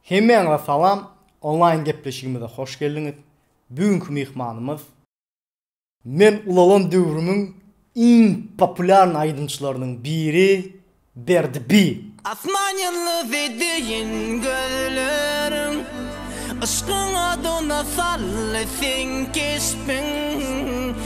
Hemmäňize salam, onlaýn gepleşigimize hoş geldiňiz. Bu günki myhmanymyz. Men ulalan döwrümiň iň populýarny aýdymçylarynyň biri Berdi B. Asman ýyldyzy deýin gözleriň, Yşkyň odyna saldy seň keşbiň.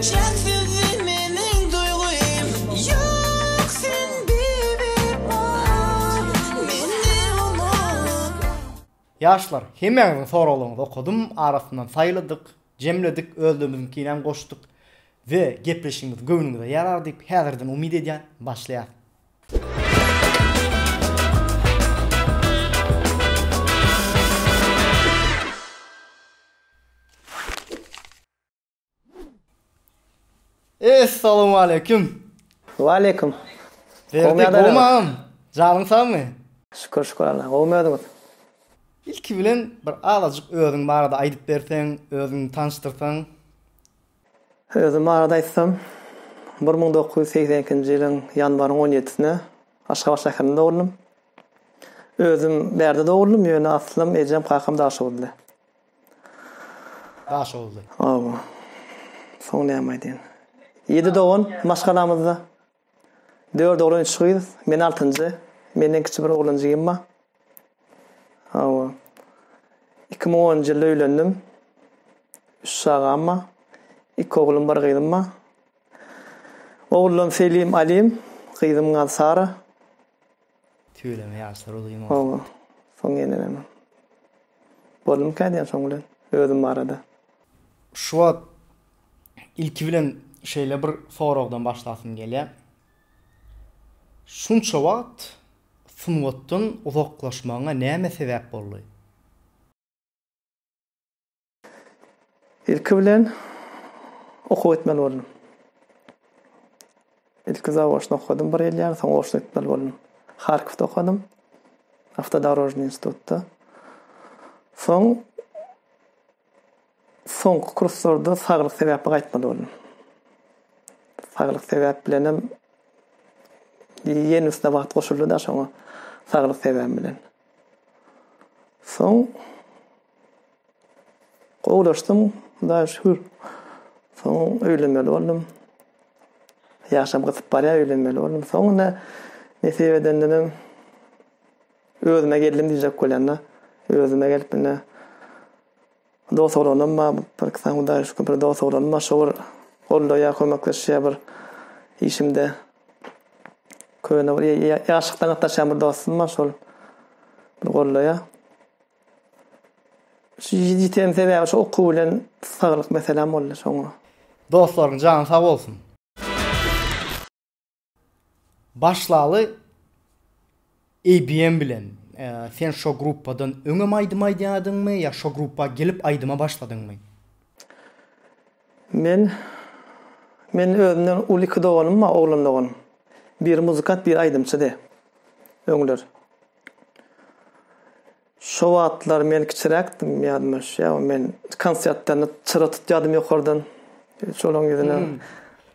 Çäksizdi meniň duýgym Ýok sen bewepa Meni unutma. Ýaşlar, hemäňiziň soraglaryňyzy okadym, arasyndan saýladyk, jemledik, özlerimiziňkinem goşduk we gepleşigimiz göwnüňize ýarar diýip, häzirden umyt edýän. Başlaýas. Essalawmaleýkim. Waleýkim. Berdi gowmy agam? Janyň sagmy? Şükür şükür Allaha. Gowmy özüňiz? Ilki bilen bir azajyk özüň barada aýdyp berseň, özüňi tanyşdyrsaň. Özüm barada aýtsam, bir müň dokuz ýüz segsen ikinji ýylyň ýanwaryň on ýedisine Aşgabat şäherinde dogruldym. Özüm Bärde dogruldym, ýöne aslym, ejem, kakam Daşoguzly. Daşoguzly. Hawa. Soň näme aýdaýyn. Ýedi dogan maşgalamyzda. Dört oglan üç gyz. Men altynjy. Menden kiçi bir oglanjygym bar. Hawa. Iki müň onunjy ýylda öýlendim. Üç çagam bar. Iki oglum bir gyzym bar. Ogullarym Selim Alim, gyzymyň ady Sara. Tüweleme ýaşlar uzyn bolsun. Hawa, soň ýenelemem. Boldumyka diýen soň bilen özüm barada. Şu wagt ilki bilen şeýle bir soragdan başlasym gelýär. Şunça wagt sungatdan uzaklaşmagyňa näme sebäp boldy? Ilki bilen okuw etmeli boldum. Ilki zaoçno okadym bir ýyl ýaly, soň oçno etmeli boldum. Harkowda okadym. Awtodorožnyý institutda. Soň soňky kurslarda saglyk sebäpli gaýtmaly boldum. Saglyk sebäp bilen hem ýene üstüne wagt goşuldy da şoňa saglyk sebäbi bilen. Soň Gowulaşdym hudaýa şükür. Soň öýlenmeli boldum. Ýaşym gysyp barýar öýlenmeli boldum. Soňunda nesip edende de özüme geldim diýjek bolýan-da. Özüme gelip indi dost oglanym bar. Bir iki sany hudaýa şükür bir dost oglanym bar. Şo bir goldaýar, kömekleşýär bir işimde. Köne bir ýaşlykdan gatnaşýan bir dostum bar şol bir goldaýar. Ýiten sebäbi şu okuw bilen saglyk meselem boldy soňra. Dostlarym jany sag bolsun. Başlaly ABM bilen. Sen şo gruppadan öňem aýdym aýdýadyňmy ýa şo gruppa gelip aýdyma başladyňmy? Men Meniň özümden uly iki doganym bar oglan doganym. Biri muzykant biri aýdymçydy öňler. Şo wagtlar men kiçiräkdim, ýadyma düşýär, men konsertlerine çyra tutýardym ýokardan. Şolaryň ýüzüne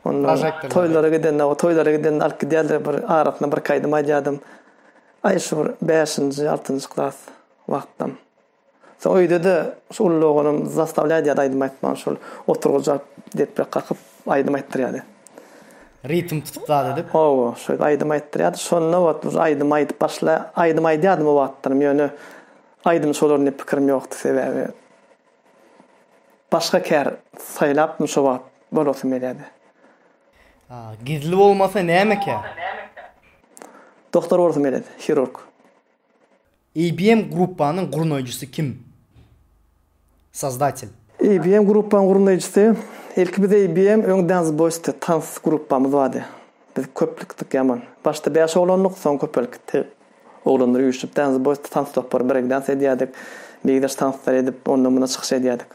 onda toýlara gidende, toýlara gidende alyp gidýärler, bir arasyna birki aýdym aýdýardym. Aý, şu bir bäşinji, altynjy klas wagtym. Soň öýde-de şu uly oglum zastavlýardy ýa-da aýdym aýtmaga, şol oturgyjy alyp, deprek kakyp, aýdym aýtdyrýardy. Ritm tutup zat edip. Hawa, şeýdip aýdym aýtdyrýardy. Şonda ot uje aýdym aýdyp başla, aýdym aýdýardym o wagtlarym, ýöne aýdym şolar diýip pikirim ýokdy, sebäbi başga kär saýlapdym şo wagt, bolasym gelýärdi. A, gizli bolmasa näme kär? Doktor bolasym gelýärdi, hirurg. IBM Gruppanyň gurnaýjysy kim? Sozdatel. IBM Gruppanyň gurnaýjysy, ilki biz IBM öň Dance Boys diýip tans gruppamyz bardy. Biz köplükdik ýaman. Başda bäş oglandyk, soň köpelip gitdi. Oglanlar üýşüp Dance Boys diýip tans topary breakdans edýärdik. Beýgidaş tanslar edip, onda munda çykyş edýärdik.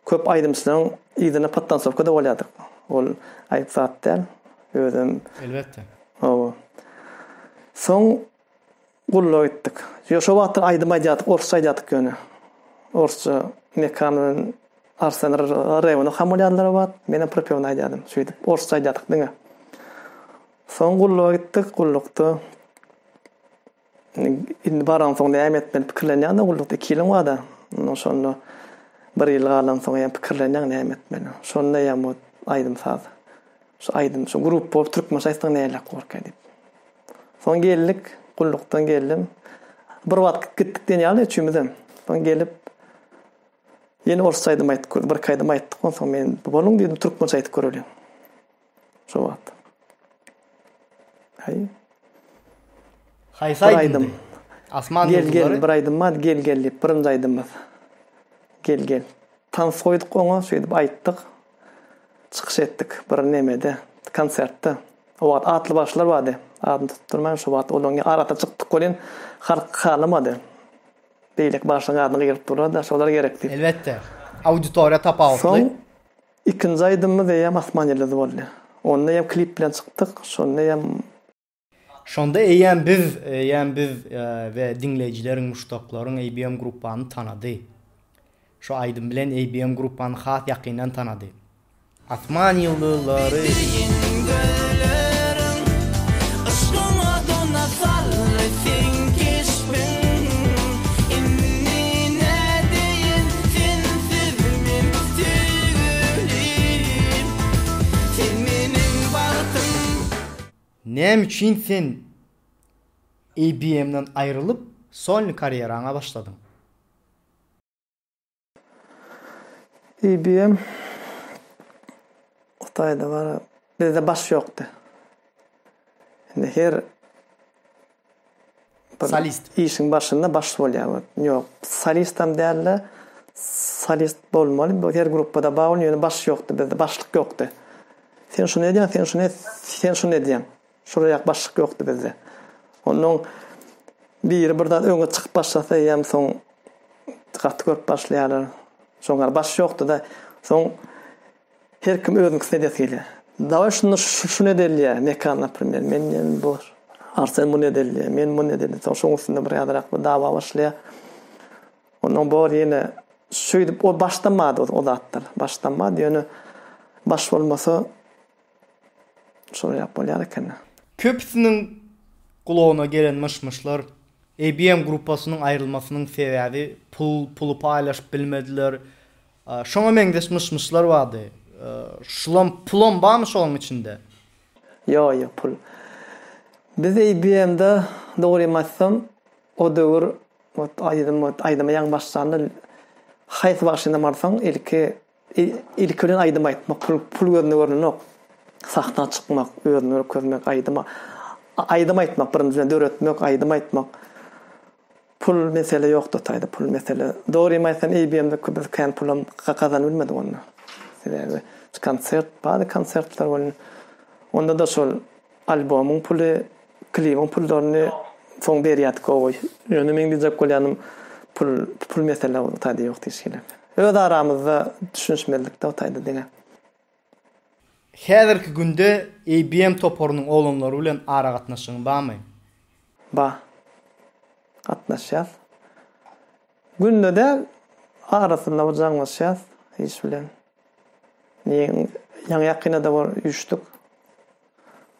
Köp aýdymçylaryň yzyna podtansowkada bolýardyk. Ol aýyp zat däl. Özem. Elbetde. Hawa. Soň. Gulluk etdik. Ýok, şo wagtlar aýdym aýdýardyk, orsça aýdýardyk ýöne. Orsça Mekan bilen Arsen rewno ham bolýardylar o wagt. Menem propewno aýdýardym. Şeýdip, orsça aýdýardyk diňe. Soň gulluga gitdik. Gullukda indi baransoň näme etmeli pikirlenýäň-de gullukda iki ýylyň bar-da. Şonda bir ýyl galansoň ýa pikirlenýäň näme etmeli. Şonda ýa bu aýdym-saz, şu aýdym, şu grup bolup türkmençe aýtsaň näleräk bolarka diýip. Soň geldik, gullukdan geldim. Bir wagt gitdik diýen ýaly üçümizem. Soň gelip ýene orsça aýdym aýtdyk. Birki aýdym aýtdyk. Onsoň men boluň diýdim, türkmençe aýdyp göreliň. Şo wagt. Haý. Haýsy aýdym? aýdym. Asman gel gel bir aýdym bar, gel gel diýip birinji aýdymymyz. Gel gel. Tans goýduk oňa, şeýdip aýtdyk. çykyş etdik bir nemede, konsertde. O wagt atly başlar bardy, adyny tutup durman şo wagt olaryň arasyna çykdyk welin, halk halamady. Beýleki başlaryň adyny gygyryp durlar-da, şolar gerek diýip. Elbetde, auditoriýa tapawutly. Soň ikinji aýdymymyz eýýäm Asman ýyldyzy boldy. Onda eýýäm klip bilen çykdyk, şonda eýýäm Şonda eýýäm biz, eýýäm biz we diňleýjileriň, muşdaklaryň ABM Gruppany tanady. Şu aýdym bilen ABM Gruppany has ýakyndan tanady. Asman ýyldyzlary. Näme üçin sen IBM-den aýrylyp, solny karýeraňa başladyň? IBM Hytaýda bar, bizde baş ýokdy. Indi her Solist. Işiň başynda baş bolýar. Ýok, solistam dälde, solist bolmaly. Bu her gruppada bar bolýar, ýöne baş ýokdy bizde, başlyk ýokdy. Sen şuny edýäň, sen şuny et, sen şuny edýäň. Şurada başlyk ýokdy bizde. Onnoň biri bir zat öňe çykyp başlasa ýa soň gaty görüp başlaýarlar. Şoňa baş ýokdy-da. Soň Her kim özüňkisini edesi gelýär. Daway şunda şuny edelýär, mekan naprimer, men diýen bu arsen muny edelýär, men muny edelýär. Soň şoň üstünde bir ýazyrak bir dawa başlaýar. Ondan bor ýene şeýdip o başlanmady o zatlar. Başlanmady ýöne baş bolmasa şoýlap bolýar eken. Köpüsiniň gulagyna gelen myş-myşlar IBM gruppasynyň aýrylmasynyň sebäbi pul, puly paýlaşyp bilmediler, Şoňa meňzeş myş-myşlar bardy. Şulam pulam barmy şoň içinde? Ýok, ýok pul. Biz eý BM-de dogrymy aýtsam, o döwür ot aýdym ot aýdyma ýaňy başlanda haýsy bagşyna barsaň ilki ilki bilen aýdym aýtmak pul pul gözünde görnenok. Sahna çykmak, özüni görkezmek, aýdyma aýdym aýtmak birinjiden döretmek, aýdym aýtmak. Pul mesele ýokdy taýda pul mesele dogrymy aýtsam EBM-de köp biz kän pulam gazanybilmedik onda. Sebäbi konsert bady konsertler boldy. Onda da şol albomyň puly, klibiň pullaryny soň berýärdik gowy. Ýöne meň diýjek bolýanym pul pul mesele ol taýda ýokdy hiç hili. Öz aramyzda düşünişmezlikde o taýda diňe. Häzirki günde ABM toparynyň oglanlary bilen aragatnaşygyň barmy? Bar. Gatnaşýas. Günde däl, arasynda bir jaňlaşýas iş bilen. Ýaňy ýakynda-da bir üýşdük.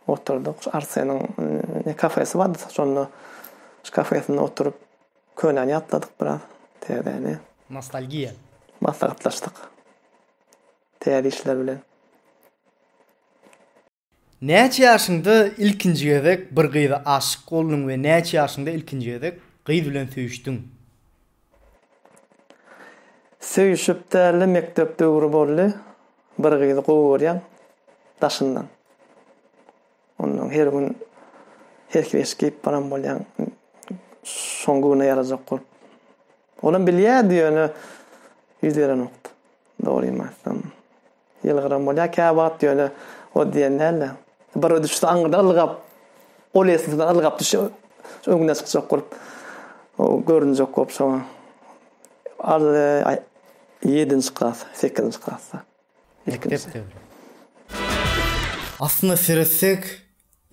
Oturdyk. Arseniň ne kafesi bardy, şonda şu kafesinde oturyp könäni ýatladyk biraz, täzäni. Nostalgiýa. Maslahatlaşdyk. Täze işler bilen. Näçe ýaşyňda ilkinji gezek bir gyza aşyk bolduň we näçe ýaşyňda ilkinji gezek gyz bilen söýüşdiň? Söýüşip dälde mekdep döwri boldy. Bir gyzy gowy görýän daşyndan. Ondan her gün herki beşik geýip baran bolýan. Şoň göwne ýarajak bolup. Olam bilýärdi ýöne ýüz berenokdy. Dogrymy aýtsam. Ýylgyran bolýar käwagt ýöne o diýen däldi. Bir düşse aňyrdan ylgap, ol esasyndan ylgap düşse öňüne çykjak bolup. O görünjek bolup şoňa. Al aý ýedinji klas, sekizinji klasda. Ilkinji. Aslynda seretsek,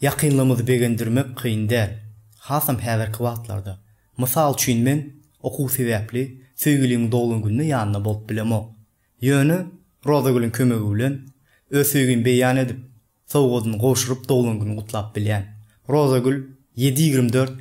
Ýakynlygymyzy begendirmek kyn däl, hasam häzirki wagtlarda. Mysal üçin men okuw sebäpli söýgilimiň doglan günde ýanynda bolup bilemok. Ýöne Rozagülüň kömegi bilen öz söýgimi beýan edip, sowgadyny gowşuryp doglan güni gutlap bilýän. Rozagül ýedi ýigrimi dört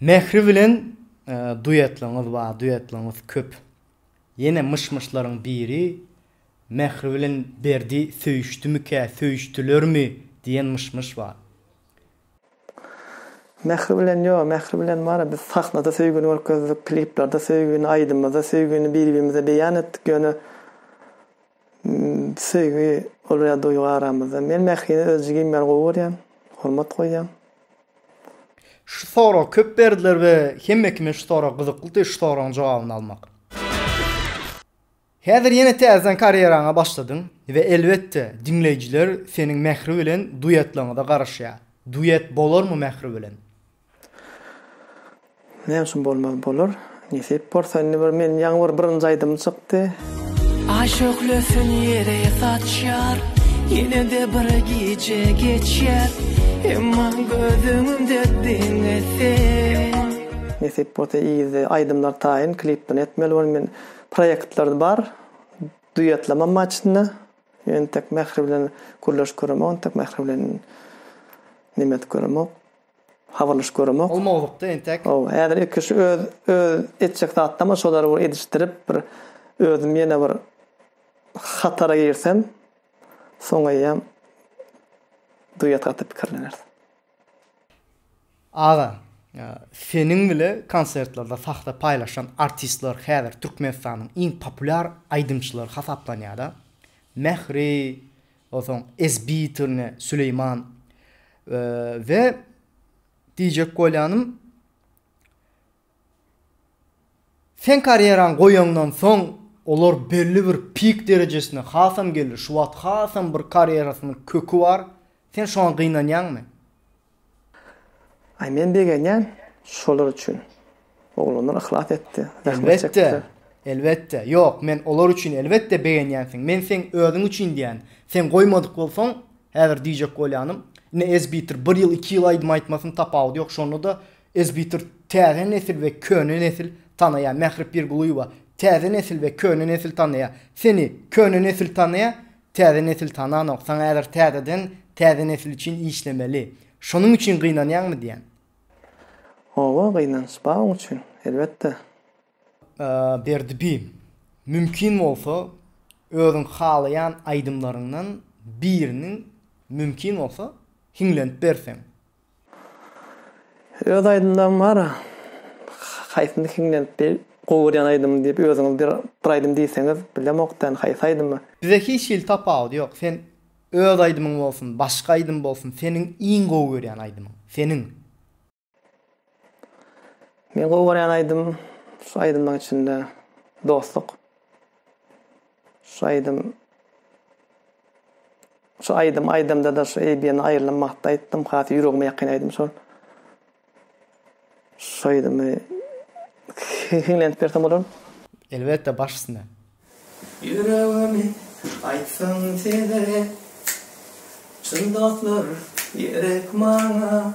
Mähri bilen duetligiňiz bar duetligiňiz köp ýene myş myşlaryň biri Mähri bilen Berdi söýüşdimikä söýüşdilermi diýen myş myş bar. Mähri bilen ýok Mähri bilen bara biz sahnada söýgini görkezdik kliplerde söýgini aýdymymyzda söýgini bir birimize beýan etdik ýöne. Söýgi ol ýa duýgy aramyzda. Men Mährini öz jigim ýaly gowy görýän, hormat goýýan. Şu sorag köp berdiler we hemme kime şu sorag gyzyklydy şu soragyň jogabyny almak. Häzir ýene täzeden karýeraňa başladyň we elbetde diňleýjiler seniň Mähri bilen duetligiňize garaşýar. Duet bolarmy Mähri bilen? Näme üçin bolmaz bolar. Nesip bolsa indi bir men ýaňy bir birinji aýdymym çykdy. Aý şöhlesini ýere saçýar Ýene-de bir gije geçýär Emma göz öňümde diňe sen. Nesip bolsa yzda aýdymlar taýyn klipini etmeli bolar men proýektler bar duýetlemem bar içinde entek Mähri bilen gürleşip göremok entek Mähri bilen neme edip göremok. Habarlaşyp göremok. Ol mowzukda entek. Ow, häzir ilki şu öz öz etjek zatdama şolary bir edişdirip bir özüm ýene bir hatara girsem soňaýýam duet gaty pikirleneris. Aga, seniň bile konsertlerde sahna paýlaşan artistler häzir Türkmenistanyň iň populýar aýdymçylary hasaplanýada. Mähri, Onsoň ezbitine Süleýman we diýjek bolýanym Sen karýeraň goýaňdan soň olar belli bir pik derejesine hasam geldi. Şu wagt hasam bir karýerasynyň köki bar. Sen şoňa gynanýaňmy? Aý men begenýän şolar üçin. Oglanlar yhlas etdi, zähmet çekdiler. Elbetde, elbetde. Ýok, men olar üçin elbetde begenýänsiň. Men seň özüň üçin diýýän. Sen goýmadyk bolsaň, häzir diýjek bolýanym, ine ezbitir bir ýyl, iki ýyl aýdym-aýtmasyn tapawudy ýok. Şonda-da ezbitir täze nesil we köne nesil tanaýar. Mähri Pirgulyýewa, Täze nesil we köne nesil tanaýar. Seni köne nesil tanaýar, Täze nesil tananok, saňa häzir täzeden täze nesil üçin işlemeli. Şonuň üçin gynanýaňmy diýýän. Hawa, gynanç bar oň üçin, elbetde. Berdi bi, mümkin bolsa özüň halaýan aýdymlaryňdan biriniň mümkin bolsa hiňlenip berseň. Öz aýdymlarym bar. Haýsyny hiňlenip bir gowy görýän aýdymyny diýip özüňiz bir bir aýdym diýseňiz bilemokda indi haýsy aýdymy. Bize hiç hili tapawudy ýok sen öz aýdymyň bolsun başga aýdym bolsun seniň iň gowy görýän aýdymyň seniň. Meň gowy görýän aýdym şu aýdymlaryň içinde Dostluk. Şu aýdym Şu aýdym aýdamda-da şu Eýbiýany aýrylan wagtda aýtdym. Has ýüregime ýakyn aýdym şol. Şu aýdymy hiňlenip bersem bolar? Elbetde, baş üstüne. Ýüregimi aýtsaň size. Çyn dostlar gerek maňa.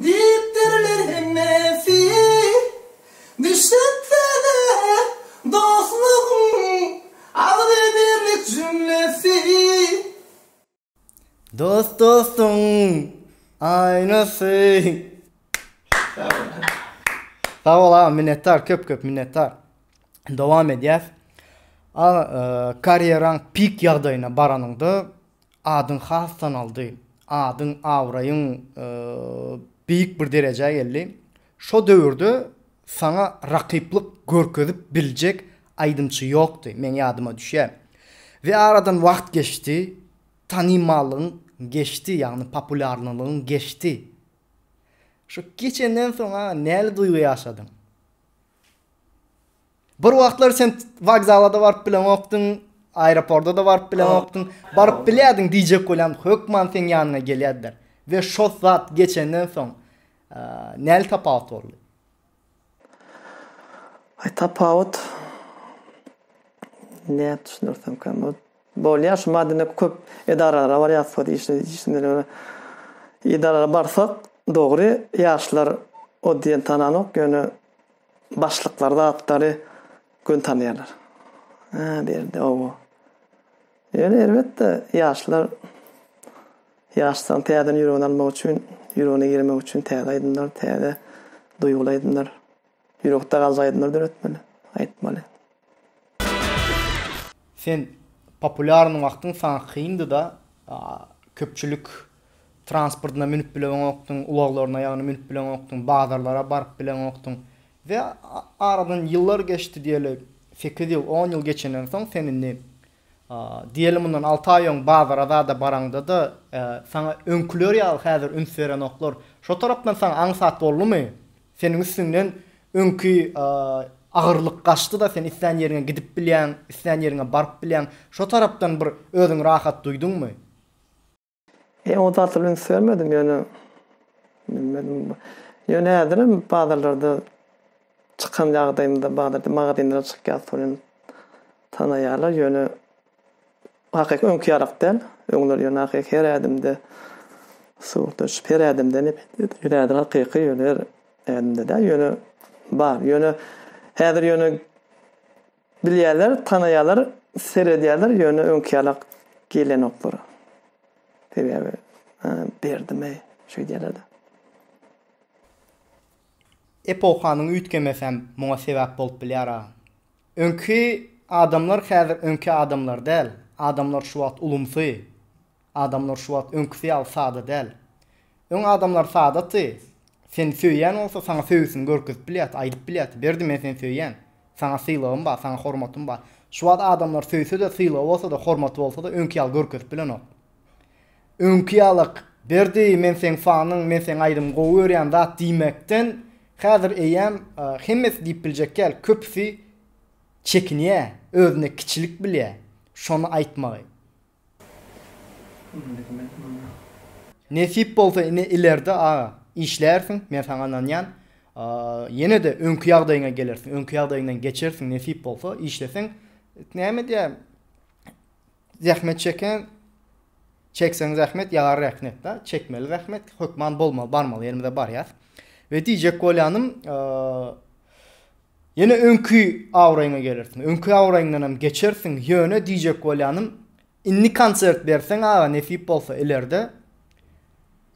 Diýipdirler hemmesi düşüpde-de dostlugyň agzybirlik jümlesi. Dost dostuň aýnasy. Sag bol. Sag bol agam minnetdar köp köp minnetdar. Dowam edýäs. Aga karýeraň pik ýagdaýyna baranyňda Adyň has tanaldy. Adyň, abraýyň beýik bir derejä geldi. Şo döwürde saňa rakyplyk görkezip biljek aýdymçy ýokdy, meň ýadyma düşýä. We aradan wagt geçdi, tanymallygyň geçdi, ýagny populýarnylygyň geçdi. Şo geçenden soň-a näli duýgy ýaşadyň? Bir wagtlar sen wokzala-da baryp bileňokdyň, aeroporta-da baryp bileňokdyň. Baryp bilýärdiň diýjek bolýan, hökman seň ýanyňa gelýärdiler. We şo zat geçenden soň, näli tapawut boldy? Aý tapawut, nädip düşündirsemkä, bu Bolýar şu madine köp edaralara barýas bu işde işsindeler. Edaralara barsak dogry ýaşlar o diýen tananok ýöne başlyklar zatlary gün tanýarlar. Ha berdi owo. Ýöne elbetde ýaşlar ýaşdan täzeden ýüregini almak üçin, ýüregine girmek üçin täze aýdymlar, täze duýguly aýdymlar. Ýürekde galjak aýdymlar döretmeli, aýtmaly. Sen populýarny wagtyň saňa kyndyda köpçülik transportyna münüp bileňokdyň, ulaglaryna ýagny münüp bileňokdyň, bazarlara baryp bileňokdyň we aradan ýyllar geçdi diýeli sekiz ýyl on ýyl geçenden soň sen indi diýeli mundan alty aý öň bazara zada baraňdada saňa öňküler ýaly häzir üns berenoklar şo tarapdan saňa aňsat boldumy Seniň üstüňden öňki agyrlyk gaçdy-da, sen islän ýeriňe gidip bilýäň, islän ýeriňe baryp bilýäň. Şo tarapdan bir özüňi rahat duýduňmy? Men o zata üns bermedim, ýöne, bilmedim. Ýöne häzirem bazarlarda çykan ýagdaýymda, bazarda, magazinlere çykýas, tanaýarlar, ýöne Ahyk öňki ýarak däl. Öňler ýöne ahyk her ädimde suw döşüp, her ädimde nepetdi. Ýöne häzir hakyky ýöne her ädimde däl. Ýöne bar. Ýöne häzir ýöne bilýärler, tanaýarlar, seredýärler, ýöne öňki ýalak gelenoklar. Sebäbi Berdimeý şeýdýärler-de. Epohanyň üýtgemesem muňa sebäp bolup bilýär-a. Öňki adamlar häzir öňki adamlar däl. Adamlar şu wagt ulumsy. Adamlar şu wagt öňküsi ýaly sada däl. Öň adamlar sadaty. Seni söýýän bolsa saňa söýgüsini görkezip bilýärdi, aýdyp bilýärdi, Berdi men seni söýýän. Saňa sylagym bar, saňa hormatym bar. Şu wagt adamlar söýse-de, sylagy bolsa-da, hormaty bolsa-da öňki ýaly görkezip bilenok. Öňki ýalak, Berdi, men seň fanyň, men seň aýdym gowy görýän zat diýmekden, häzir eýýäm hemmesi diýip biljek däl, köpüsi çekinýä, özüne kiçilik bilýä şony aýtmagy. Nesip bolsa ine ilerde aga, işlärsiň, men saňa ynanýan, ýene-de öňki ýagdaýyňa gelersiň, öňki ýagdaýyňdan geçersiň nesip bolsa, işleseň, näme diýä, Zähmet çeken Çekseň zähmet ýagar rähnetda çekmeli zähmet hökman bolmaly barmaly ýerimize barýas. We diýjek bolýanym ýene öňki awraýyňa gelersiň. Öňki awraýyňdan hem geçersiň. Ýöne diýjek bolýanym indi konsert berseň aga nesip bolsa ilerde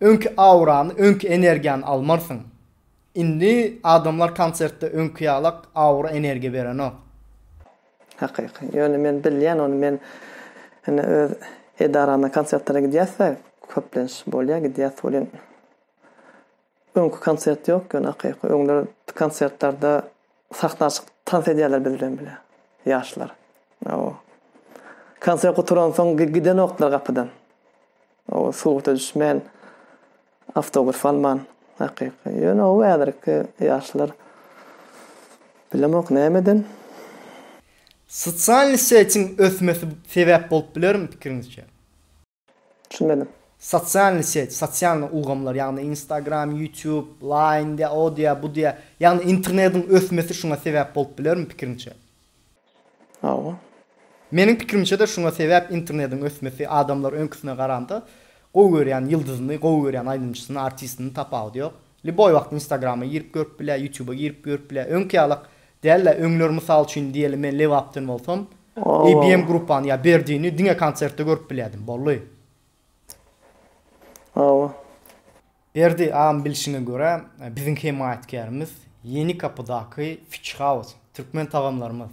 öňki awrany, öňki energiýany almarsyň. Indi adamlar konsertde öňki ýalak awra energiýa berenok. Hakyky. Ýöne men bilýän ony men indi öz edarama konsertlere gidýäsde köplenç bolýa gidýäs welin öňki konsert ýok ýöne hakyky öňler konsertlerde sahna çykyp tans edýärler biz bilen bile ýaşlar. Aw. Konsert gutaransoň gidenoklar gapydan. Aw surata düşmän. Awtograf alman hakyky. Ýöne ow häzirki ýaşlar bilemok nämeden. Sosialny setiň ösmesi sebäp bolup bilermi pikiriňizçe? Düşünmedim. Sosialny set, sosialny ulgamlar, ýagny Instagram, YouTube, Line diýä, o diýä, bu diýä, ýagny internetiň ösmesi şuňa sebäp bolup bilermi pikiriňçe? Hawa. Meniň pikirimçede şuňa sebäp internediň ösmesi adamlar öňküsine garanda gowy görýän ýyldyzyny gowy görýän aýdymçysyny artistini tapawudy ýok liboý wagt instagrama girip görüp bilä ýutuba girip görüp bilä öňki ýalak dälä öňler mysal üçin diýeli men lebapden bolsam abm gruppany ýa berdini diňe konsertde görüp bilýädim bolly. Hawa. Berdi agam bilşiňe görä biziň hemaýatkärimiz Ýeni gapydaky Fish House türkmen tagamlarymyz.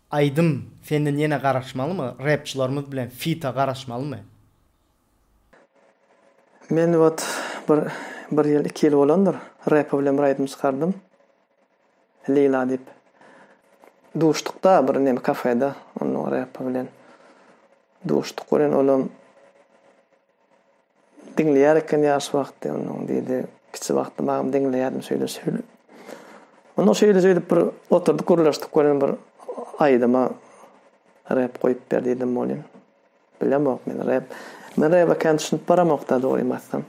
Aýdym senden ýene garaşmalymy repçilarymyz bilen fita garaşmalymy. Men wot bir bir ýyl iki ýyl bolandyr repa bilen bir aýdym çykardym Lila diýip duşdukda bir neme kafeda ondan repa bilen duşduk welin olam Diňleýär eken ýaş wagty onuň diýdi. Kiçi wagty babam diňleýärdim şeýle şeýle. Onda şeýle şeýdip bir oturdyk gürleşdik welin bir aýdyma rep goýup ber diýdim welin. Bilemok men rep. Men rep ekeni düşünip baramok da dogrymy aýtsam.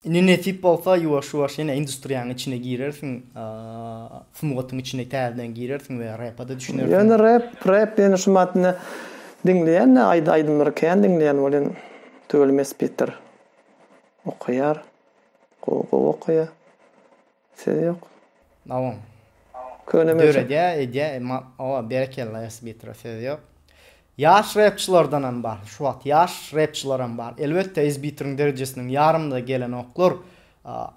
Indi nesip bolsa ýuwaş-ýuwaş ýene industriýanyň içine girersiň, sungatyň içine täzeden girersiň we repa-da düşünersiň. Ýöne rep, rep diýeni şu maddany diňleýän-de, aýdymlary kän diňleýän welin tüweleme spikdir. Okaýar. Gowy-gowy okaýar. Söz ýok. Dawam. Köne möçe. Döredýä edýä ma owa berekella Esbitro söz ýok. Ýaş repçilardanam bar şu wagt ýaş repçilaram bar elbetde Esbitrň derejesiniň ýarymyna gelenoklar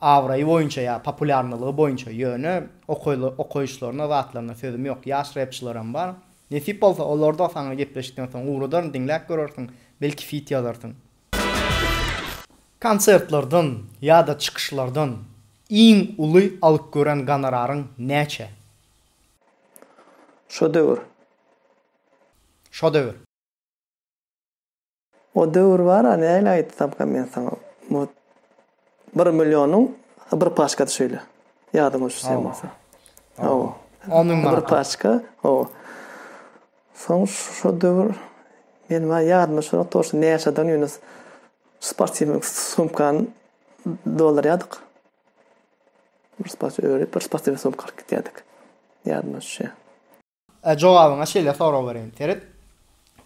abraýy boýunça ýa populýarnylygy boýunça ýöne okaýly okaýyşlaryna zatlaryna sözüm ýok ýaş repçilaram bar nesip bolsa olarda saňa gepleşikden soň ugradaryn diňläp görersiň belki fit ýazarsyň. Konsertlerden ýa-da çykyşlardan iň uly alyp gören gonoraryň näçe? Şo döwür. Şo döwür. O döwür bar-a, nähili aýtsam-ka men saňa, bu Bir millionyň bir paçkasy şeýle. Ýadyňyz düşýän bolsa. Hawa. On müň manat. Bir paçka. Hawa. Soň şu döwür men wa ýadyma düşýär, toşda näçeden ýöne sportiwnyň sumkany doldurýardyk. Bir sportiw örüp, bir sportiw sumka alyp gidýärdik. Ýadyma düşýär. Ä jogabyňa şeýle sorag bereýin. Seret,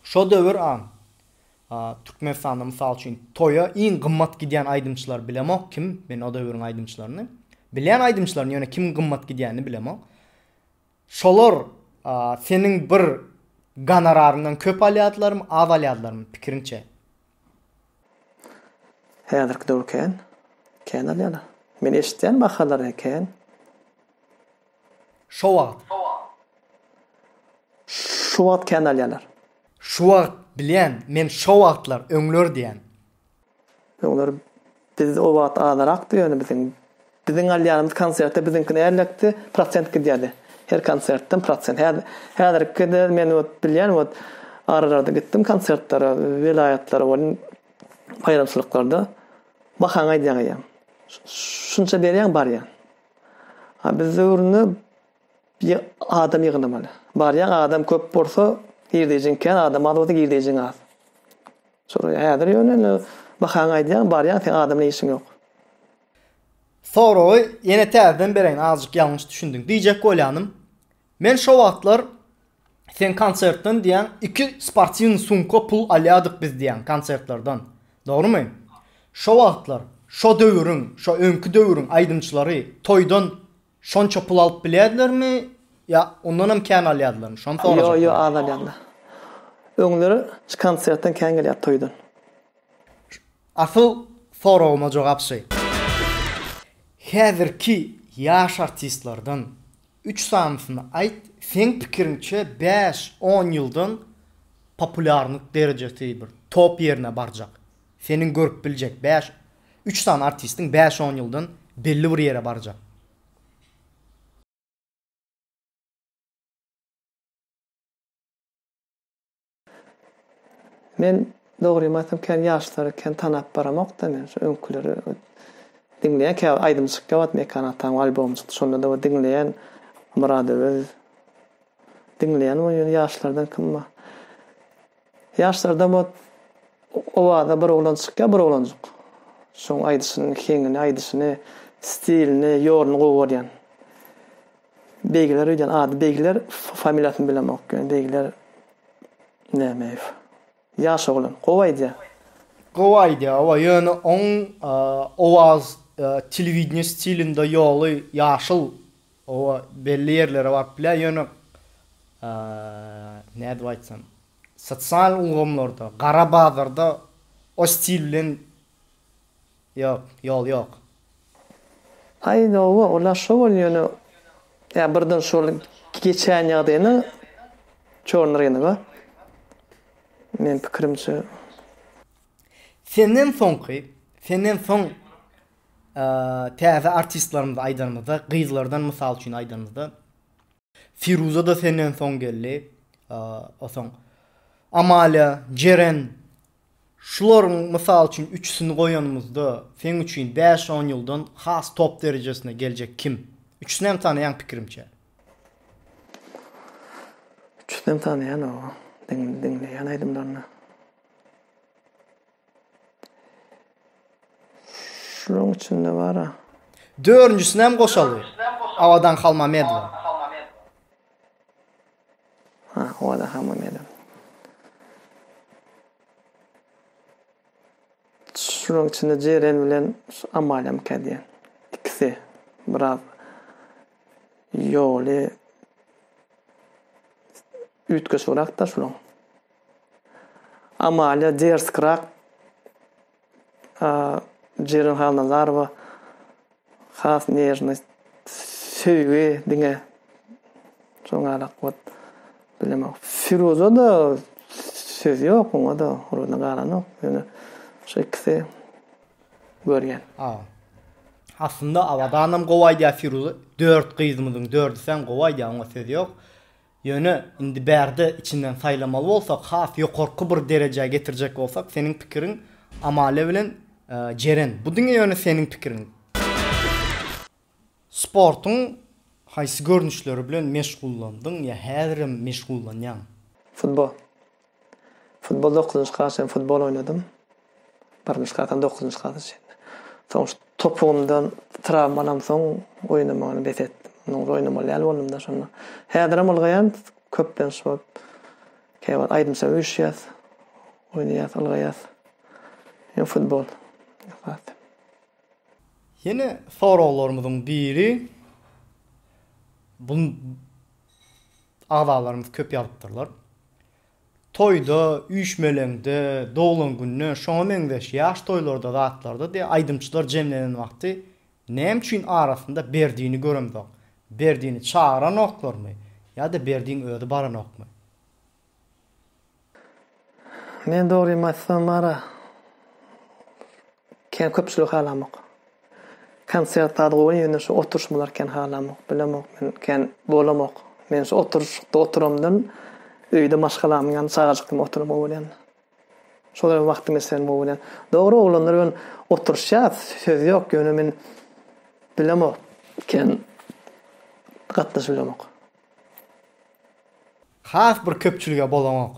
şo döwür a Türkmenistanda mysal üçin toýa iň gymmat gidýän aýdymçylary bilemok kim, men o döwüriň aýdymçylaryny. Bilýän aýdymçylaryny ýöne kim gymmat gidýänini bilemok. Şolar a seniň bir gonoraryňdan köp alýardylarmy, az alýardylarmy pikiriňçe? Häzirki döwür kän. Kän alýarlar. Men eşitýän bahalary kän. Şo wagt. Şu wagt kän alýarlar. Şu wagt bilýän, men şo wagtlar, öňler diýen. Öňler biz o wagt azarakdy ýöne biziň. Biziň alýanymyz konsertde biziňkini ärlekdi, prosent gidýärdi. Her konsertden prosent. Häzirkide men wot bilýän wot aralary gitdim konsertlere, welaýatlara welin baýramçylyklarda bahaňy aýdýaň eýýäm. Şunça berýäň barýan. Biz döwründe adam ýygnamaly. Barýaň adam köp bolsa girdejiň kän adam az bolsa girdejiň az. Şolar häzir ýöne indi bahaňy aýdýaň barýaň seň adam bilen işiň ýok. Soragy ýene täzeden bereýin azjyk ýalňyş düşündiň. Diýjek bolýanym. Men şo wagtlar Sen konsertden diýýäň, iki sportiwnyý sumka pul alýardyk biz diýýäň konsertlerden. Dogrumy? Şo wagtlar, şo döwüriň, şo öňki döwüriň aýdymçylary toýdan şonça pul alyp bilýärdilermi ýa ondanam kän alýardylarmy? Şony sorajak boldum. Ýo-ýo, az alýarlar. Öňleri konsertden kän gelýärdi toýdan. Asyl soragyma jogap şy. Häzirki ýaş artistlerden Üç sanysyny aýt, seň pikiriňçe bäş, on ýyldan populýarnyk derejesi bir top ýerine barjak, seniň görüp biljek bäş, üç sany artistiň bäş, on ýyldan belli bir ýere barjak. Men dogrymy aýtsam kän ýaşlary kän tanap baramokda men şu öňküleri diňleýän käbir aýdym çykýa wagt Mekan Atanyň albomy çykdy şondada bir diňleýän Myrad Öwez diňleýän we ýöne ýaşlardan kim bar ýaşlardan bu Owaza bir oglan çykýa bir oglanjyk şoň aýdyşynyň heňini aýdyşyny stilini ýoluny gowy görýän. Beýgiler öýdýän ady Beýgiler familiýasyny bilemok ýöne Beýgiler Nämeýew. Ýaş oglan. Gowy aýdýar. Gowy aýdýar owa ýöne oň owaz telewideniýe stilinde ýoly ýaşyl owa belli ýerlere baryp bilýär ýöne nädip aýtsam sosial ulgamlarda gara bazarda o stil bilen Ýok, ýol ýok. Aý toba ola şo bol ýöne ýa birden şol geçen ýagdaýyna çorny rynyga men pikirimçe. Senden soňky senden soň täze artistlerimizi aýdanymyzda gyzlardan mysal üçin aýdanymyzda. Firuza-da senden soň geldi. Soň Amalia, Jeren, şularyň mysal üçin üçüsini goýanymyzda seň üçin bäş-on ýyldan has top derejesine geljek kim? Üçüsinem tanaýaň pikirimçe. Üçüsinem tanaýan oba. Diňleýän aýdymlaryny. Şulaň içinde bara. Dördünjisinem goşaldy. Abadan Halmamedowa. Ha, Abadan Halmamedowa. Şulaň içinde Jeren bilen Amalem kädýän. Ikisi biraz ýoly üýtgeşigrakda şulaň. Amalia Derskrag, Jeren Halnazarowa has nerwny söýgi diňe şoň galak bot bilemok. Firuza da söz ýok oňa da oruna galanok. Ýöne şu ikisi görýän. Aslynda Abadanam gowy aýdýar Firuza dört gyzymyzyň dördüsem gowy aýdýar oňa söz ýok. Ýöne, indi bärde içinden saýlamaly bolsak, has ýokarky bir derejä getirjek bolsak, seniň pikiriň Amalia bilen Jeren. Bu diňe ýöne seniň pikiriň. Sportuň haýsy görnüşleri bilen meşgullandyň ýa häzirem meşgullanýaň? Futbol. Futbol dokuzynjy klas üçin futbol oýnadym. Birinji klasdan dokuzynjy klasa çenli. Soň şu topugymdan trawma alamsoň oýnamany bes etdim. Ondan ozal oýnamaly däl boldum-da şonda. Häzirem ylgaýan, köplenç bolup käbir wagt aýdym-saz üýşýäs, oýnaýas, ylgaýas. Ýöne futbol esasy. Ýene soraglarymyzyň biri, bunu agzalarymyz köp ýazypdyrlar. Toýda, üýşmeleňde, doglan günde, şoňa meňzeş ýaş toýlarda zatlarda diýe aýdymçylar jemlenen wagty näme üçin arasynda Berdini göremzok? Berdini çagyranoklarmy ýa-da Berdin özi baranokmy? Men dogrymy aýtsam ara Kän köpçülik halamok. Konsert zat gowy ýöne şu oturyşmalar kän halamok. Bilemok men kän bolamok. Men şu oturyşykda oturamdan öýde maşgalamyň ýanynda çagajyk kimi oturam gowy bolýan. Şolar bilen wagtymy geçirem gowy bolýan. Dogry oglanlar bilen oturyşýas söz ýok ýöne men bilemok kän gatnaşyp bilemok. Has bir köpçülige bolaňok.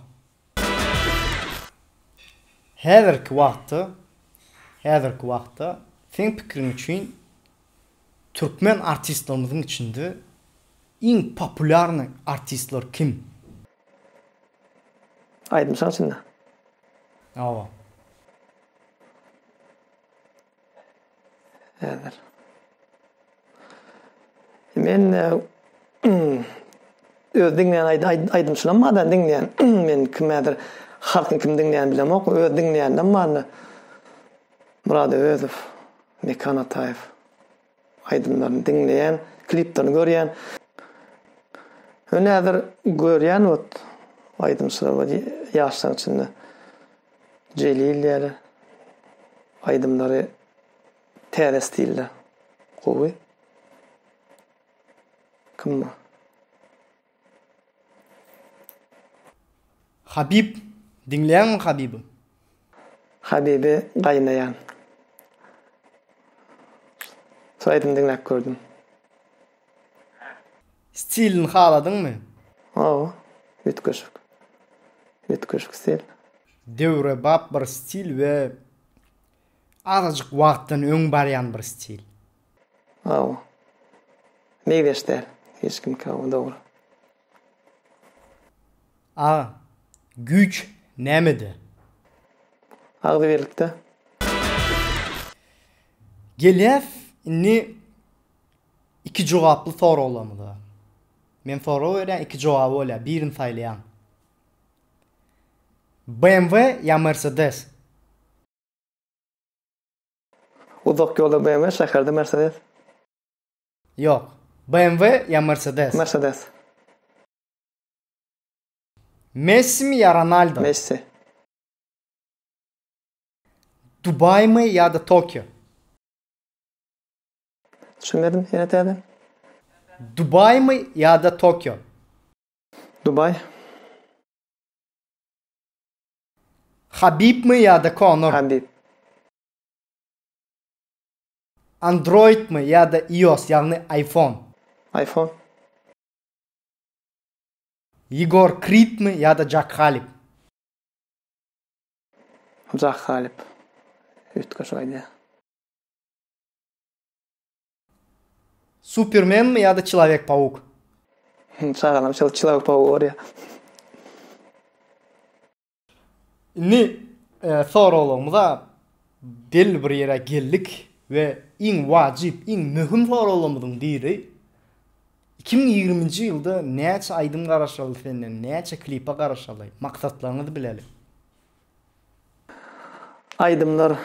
Häzirki wagtda, häzirki wagtda seň pikiriň üçin türkmen artistlerimiziň içinde iň populýarnyý artistler kim? Aýdymçyň içinde? Hawa. Häzir. Men e, öz diňleýän aýdymçylarym bardan diňleýän. Men kim häzir halkyň kim diňleýän bilemok. Öz diňleýändem barmy? Murad Öwezow, Mekan Ataýew. Aýdymlaryny diňleýän, kliplerini görýän. Öne häzir görýän ot aýdymçylar bar ýaşlaryň içinde. Jelil ýaly aýdymlary täze stilde. Gowy. Kim bu? Habib, diňleýäňmi Habibi? Habibi gaýnaýan. Şu aýdymy diňläp gördüm. Stilini haladyňmy? Hawa, üýtgeşik. Üýtgeşik stil. Döwrebap bir stil we azajyk wagtdan öň barýan bir stil. Aw. Meýleş däl. Hiç kimki aw dogry. A. Güýç nämede? Agzybirlikde. Gelýäs indi iki jogaply soraglarymyza. Men sorag berýän iki jogaby bolýar birini saýlaýaň. BMW ýa Mercedes? Uzak ýolda BMW, şäherde Mercedes. Ýok. BMW ýa Mercedes? Mercedes. Messimi ýa Ronaldo? Messi. Dubaýmy ýa-da Tokio? Düşünmedim, ýene täze. Dubaýmy ýa-da Tokio? Dubaý. Habibmi ýa-da Konor? Habib. Androidmi ýa-da ios, ýagny iPhone? Iphone. Ýegor Kridmi ýa-da Jack Halep? Jack Halep. Üýtgeşik aýdýar. Supermenmi ýa-da Çylawek Pawuk? Him çagalam şol çylawek pawugy görýär. Indi soraglarymyza belli bir ýere geldik we iň wajyp, iň möhüm soraglarymyzyň biri, iki müň ýigriminji ýylda näçe aýdym garaşyldy senden, näçe klipe garaşyldy, maksatlaryňyzy bileli. Aýdymlar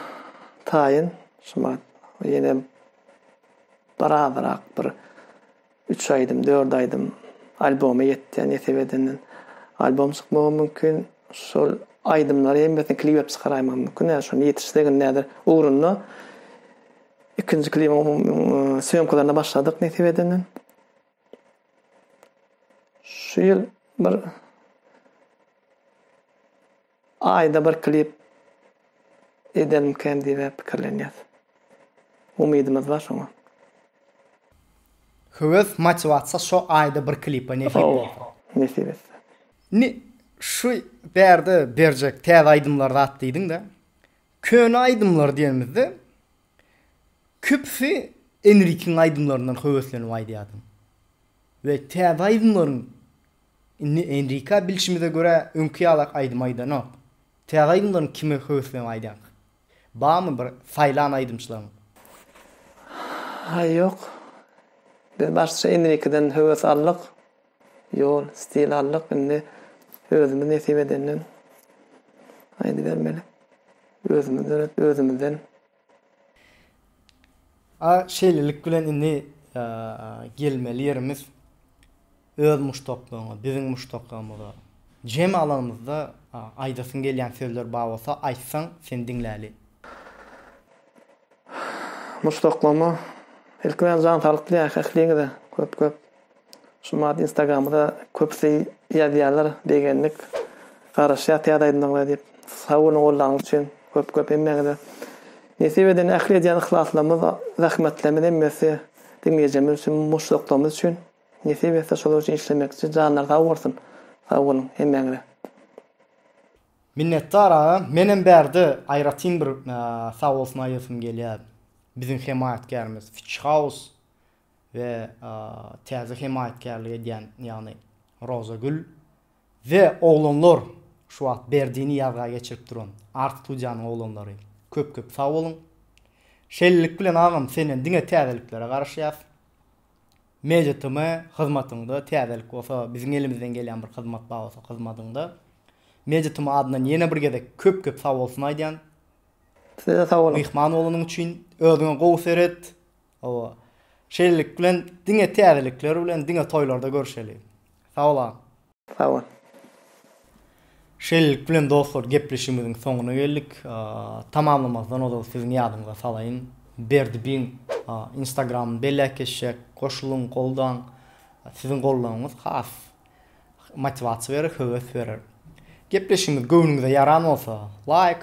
taýyn şumat ýene bir azyrak bir üç aýdym dört aýdym alboma ýetýär nesip edenden albom çykmagy mümkin şol aýdymlary hemmesini klibep çykaraýmak mümkin ýa şony ýetişsek indi häzir ugrunda ikinji klibiň söýemkalaryna başladyk nesip edenden. Şu ýyl bir aýda bir klip edermikäm diýibä pikirlenýäs. Umydymyz bar şoňa. Höwes, motiwasiýa şo aýda bir klipe nesip bolsa. Nesip etse. Indi şu bärde berjek täze aýdymlar zat diýdiň-dä. Köne aýdymlar diýenimizde. Köpüsi Enrikiň aýdymlaryndan höweslenip aýdýardy we täze aýdymlaryň indi Enrika bilşimize görä öňki ýalak aýdym aýdanok. Täze aýdymlaryň kime höweslenip aýdýarka? Barmy bir saýlan aýdymçylaryň? Haý ýok. Biz başda Enrikeden höwes aldyk. Ýol, stil aldyk, indi özümiz nesip edenden aýdybermeli. Özümiz döretip, özümizden. A şeýlelik bilen indi gelmeli ýerimiz öz muşdaklaryňa, biziň muşdaklarymyza. Jemi alanymyzda aýdasyň gelýän sözler bar bolsa aýtsaň, seni diňläli. Muşdaklaryma ilki bilen jan saglyk dileýäris ähliňize köp-köp. Şu mady instagramda köpüsi ýazýarlar begendik garaşýas täze aýdymlaryňyza diýip sag boluň gollaryňyz üçin köp köp hemmäňize nesip edeni ähli edýän yhlaslarymyz zähmetlerimiz hemmesi diňleýjimiz üçin muşdaklygymyz üçin nesip etse şolar üçin işlemekçi janlar sag bolsun sag boluň hemmäňize. Minnetdar agam menem bärde aýratyn bir sag bolsun aýdasym gelýär biziň hemaýatkärimiz fitch house we täze hemaýatkärlik edýän, ýagny Rozagül we oglanlar, şu wagt Berdini ýazga geçirip duran art-studiýanyň oglanlary köp-köp sag boluň. Şeýlelik bilen agam senden diňe täzeliklere garaşýas. MediaTm hyzmatyňda täzelik bolsa, biziň elimizden gelýän bir hyzmat bar bolsa hyzmadyňda MediaTm adyndan ýene bir gezek köp-köp sag bolsun aýdýan. Size sag boluň. Myhman bolanyň üçin. Özüňe gowy seret. Hawa. Şeýlelik bilen diňe täzelikler bilen diňe toýlarda görüşeli. Sagbolaň. Sagbol. Şeýlelik bilen dostlar gepleşigimiziň soňuna geldik. Tamamlamazdan ozal siziň ýadyňyza salaýyn. Berdibiň instagramyny belläp geçjek. Goşulyň, goldaň. Siziň goldawyňyz has motiwasiýa berer, höwes berer. Gepleşigimiz göwnüňize ýaran bolsa laýk,